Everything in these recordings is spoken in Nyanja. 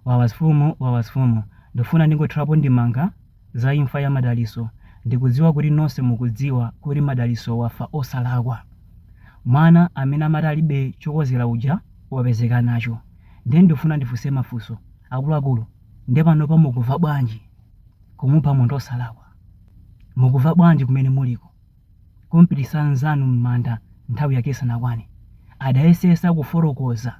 Wawasfumu wawasfumu ndufuna ndingothirapo ndemanga za imfa ya madaliso ndikudziwa kuti nose mukudziwa kuti madaliso wafa osalakwa mwana amene amati alibe chokozera uja wapezeka nacho nde ndufuna ndifuse mafuso akuluakulu nde panopa mukuva bwanji kumupha munthu osalakwa mukuva bwanji kumene muliko kumpitisa nzanu mmanda nthawi yake isanakwane adayesesa kuforokoza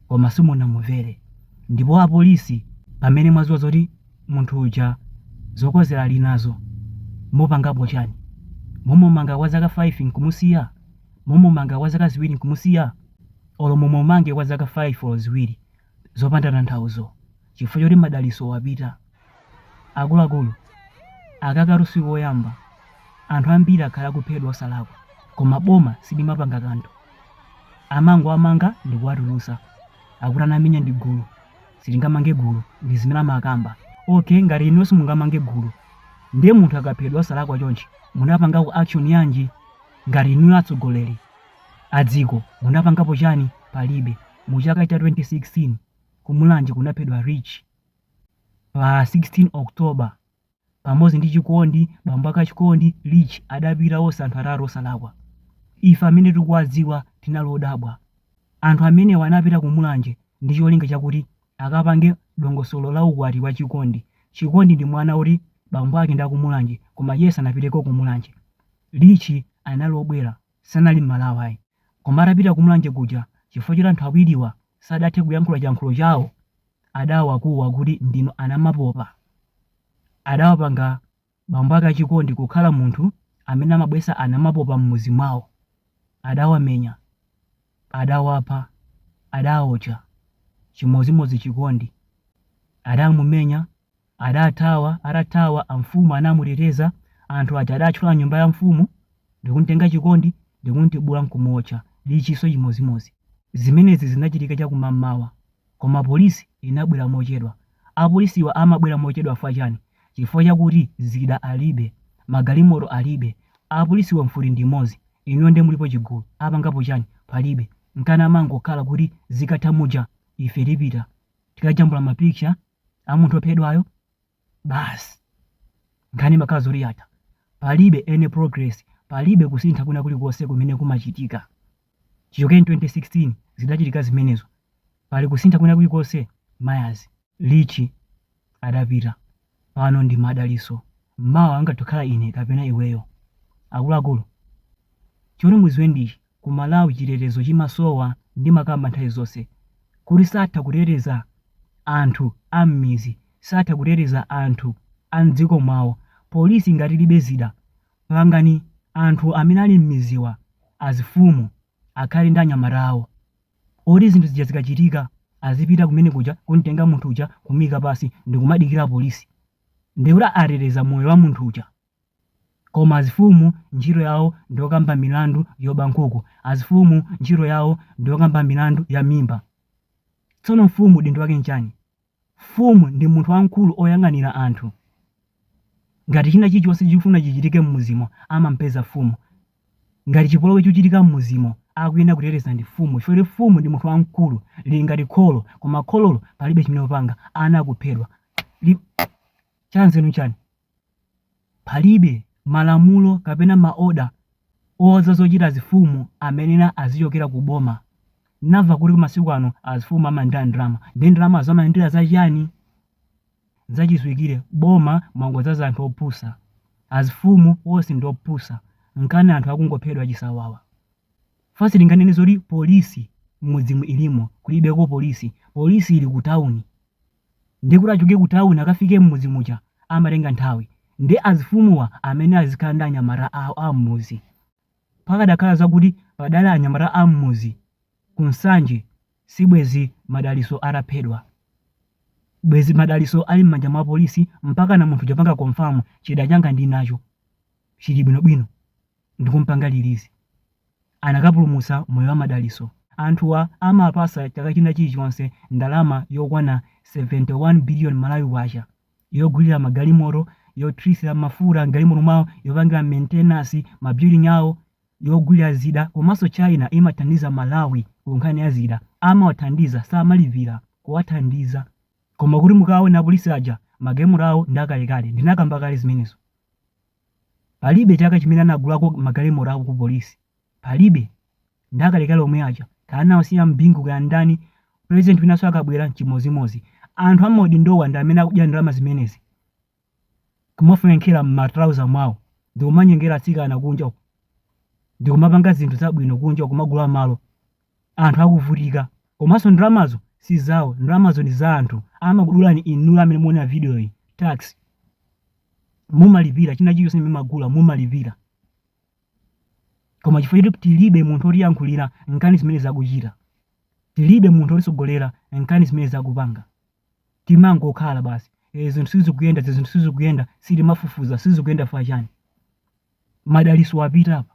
koma simunamumvere ndipo apolisi pamene mwaziwa zoti munthu uja zokozera alinazo mupangapo chani? mumumanga kwa zaka 5 nkumusiya? mumumanga kwa zaka ziwiri nkumusiya? olo mumumange kwa zaka 5 olo ziwiri zopanda tanthauzo chifukwa choti madaliso wapita. Akuluakulu, aka katsi koyamba anthu ambiri akhala akuphedwa osalakwa koma boma silimapanga kanthu. Amangowamanga ndi kuwatulutsa. Akuti anamenya ndi gulu. Sitingamange gulu, ndi zimene amakamba. Okay, ngati inuyo simungamange gulu, ndiye munthu akaphedwa osalakwa chonchi, munapangapo action yanji? Ngati inuyo atsogoleri a dziko, munapangapo chani? Palibe. Mu chaka cha 2016, ku Mulanje kunaphedwa Rich. Pa 16 October, pamodzi ndi Chikondi, bambo ake a Chikondi, Rich, adapita onse anthu atatu osalakwa. Ife amene tikuwadziwa tinali odabwa. Anthu amenewa anapita ku Mulanje ndi cholinga chakuti akapange dongosolo la ukwati wa Chikondi. Chikondi ndi mwana woti bambo ake ndi a ku Mulanje koma iye sanapiteko ku Mulanje. Rich anali obwera, sanali Mmalawi ayi. Koma atapita ku Mulanje kuja, chifukwa choti anthu awiriwa sadathe kuyankhula chiyankhulo chawo adawakuwa kuti ndinu anamapopa. Adawapanga bambo ake a Chikondi kukhala munthu amene amabwesa anamapopa m'mudzi mwawo. Adawamenya, adawapha, adawaotcha. Chimodzimodzi Chikondi. Adamumenya Adathawa, atathawa amfumu anamuteteza, anthu aja adatchola nyumba ya mfumu ndikumtenga Chikondi ndikumtibula nkumuotcha, Lichiso chimodzimodzi. Zimenezi zinachitika chakumammawa koma polisi inabwera mochedwa. Apolisiwa amabwera mochedwa chifukwa chani? Chifukwa chakuti zida alibe, magalimoto alibe, apolisiwa mfuti ndimodzi, inuyo nde mulipo chigulu, apangapo chani? Palibe. Nkana amangokhala kuti zikatha muja ife tipita tikajambula ma picture. a munthu ophedwayo basi nkhani imakhala zoti yatha palibe any progress palibe kusintha kwina kulikonse kumene kumachitika chichokeni 2016 zidachitika zimenezo pali kusintha kwina kulikonse mayazi lichi adapita pano ndi madaliso mawa angatokhala ine kapena iweyo akuluakulu choti muziwe ndichi Ku Malawi chitetezo chimasowa ndimakamba nthawi zonse kuti satha kuteteza anthu a mmizi satha kuteteza anthu a mdziko mwawo polisi ngati ilibe zida pangani anthu amene ali mmiziwa azifumu akhale ndi anyamata awo oti zinthu zija zikachitika azipita kumene kuja kumtenga munthu uja kumuika pansi ndikumadikira polisi nde kuti ateteza moyo wa munthu uja Koma azifumu ntchito yawo ndiyokamba milandu yoba nkhuku. Azifumu ntchito yawo ndiyokamba milandu ya mimba. Tsono mfumu udindo wake nchani? Mfumu ndi munthu wamkulu oyang'anira anthu. Ngati china chilichonse chikufuna chichitike mmuzimo amampeza mfumu. Ngati chipolowe chikuchitika mmuzimo akuyenera kuteteza ndi mfumu chifukwa choti mfumu ndi munthu wamkulu lili ngati kholo koma khololo palibe chimene likupanga ana akuphedwa. Chanzeru nchani? Palibe malamulo kapena maoda ouza zocita azifumu amene azicokela ku boma. N'namva kuti masiku ano azifumu amalandila ndalama. Ndiye ndalamazo amalandila za ciani? N'zacidziwikile, boma mwangodzaza anthu opusa. Azifumu onse ndi opusa. N'kana anthu akungophedwa cisawawa. Fa sitinganene zoti polisi m'mudzimu ilimo, kulibeko polisi. Polisi ili ku tauni. ndiye kuti achoke kutawuni akafike m'mudzi muja amatenga nthawi ndi azifumuwa amene azikhala ndi anyamata awo a m'mudzi pakadakhala zakuti padali anyamata a m'mudzi ku nsanje sibwezi madaliso ataphedwa bwezi madaliso ali m'manja mwa polisi mpaka mwina munthu atapanga confirm chida changa ndinacho chili bwinobwino ndikumpanga release anakapulumutsa moyo wa Madaliso. Anthuwa amawapasa chaka china chilichonse ndalama yokwana 71 billion Malawi kwacha yogulira magalimoto, yothiritsira mafuta m'galimoto mwawo, yopangira maintenance ma building awo, yogulira zida komanso China imathandiza Malawi ku nkhani ya zida. Amawathandiza samalipira kuwathandiza. Koma kuti mukaone apolisi aja magalimoto awo ndi akalekale ndinakamba kale zimenezo. Palibe chaka chimene anagulako magalimoto awo ku polisi. Palibe. Ndi akalekale omwe aja. Kaya anawasiya a Bingu kaya ndani, president winanso akabwera n'chimodzimodzi. Anthu a m'maudindowa ndi amene akudya ndalama zimenezi. Kumafwenkera m'ma trouser mwawo ndi kumanyengera atsikana kunja uko. Ndi kumapanga zinthu zabwino kunja uko kumagula malo. anthu akuvutika komanso ndalamazo si zawo ndalamazo ndi za anthu amakudulani inu amene mukuona video iyi tax mumalipira china chilichonse chimene mumagula mumalipira koma chifukwa choti tilibe munthu otiyankhulira nkhani zimene zakuchita tilibe munthu otisogolera nkhani zimene zakupanga timangokhala basi e, zinthu sizikuyenda e zinthu sizikuyenda sitimafufuza sizikuyenda fachani madaliso apita apa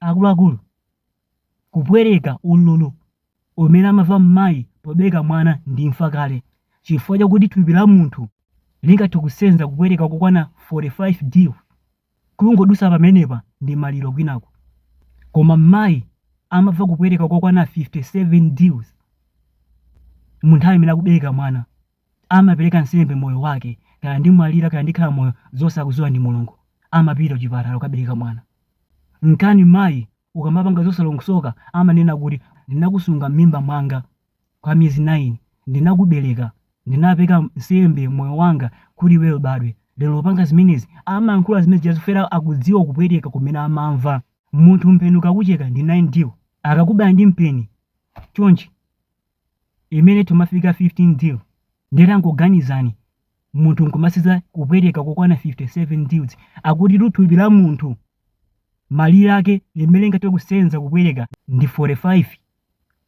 Akuluakulu, kupweteka, ululu umene amamva m'mayi pobereka mwana ndi imfa kale chifukwa chakuti thupi la munthu lingathe kusenza kupweteka kokwana 45 del. Kungodutsa pamenepa ndi maliro kwinako koma m'mayi amamva kupweteka kokwana 57 dels mu nthawi imene akubereka mwana. amapereka nsembe moyo wake kaya ndimwalira kaya ndikhala moyo zonse akuziwa ndi mulungu amapita kuchipatala kukabereka mwana nkana mayi ukamapanga zosalongosoka amanena kuti ndinakusunga mmimba mwanga kwa miyezi 9 ndinakubereka ndinapereka nsembe moyo wanga kuti iweyo ubadwe lero upanga zimenezi amayankhula zimene zija zifera akudziwa kupweteka kumene amamva munthu mpeni ukakucheka ndi 9 del akakubaya ndi mpeni chonchi imene timafika 15 del ndiye tangoganizani munthu nkumasenza kupweteka kokwana 57 dels akuti thupi la munthu malire ake limene lingathe kusenza kupweteka ndi 45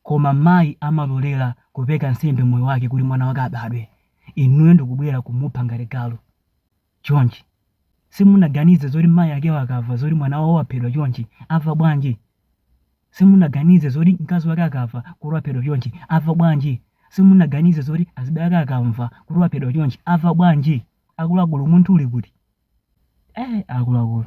koma mayi amalolera kupereka nsembe moyo wake kuti mwana wake abadwe inuyo ndikubwera kumupha ngati galu chonchi. Simunaganize zoti mayi akewo akava zoti mwana wawo waphedwa chonchi ava bwanji? Simunaganize zoti mkazi wake akava kuti waphedwa chonchi ava bwanji? Simunaganize zoti azibale ake akamva kuti waphedwa chonchi ava bwanji? Akuluakulu umunthu uli kuti? Eh, akuluakulu.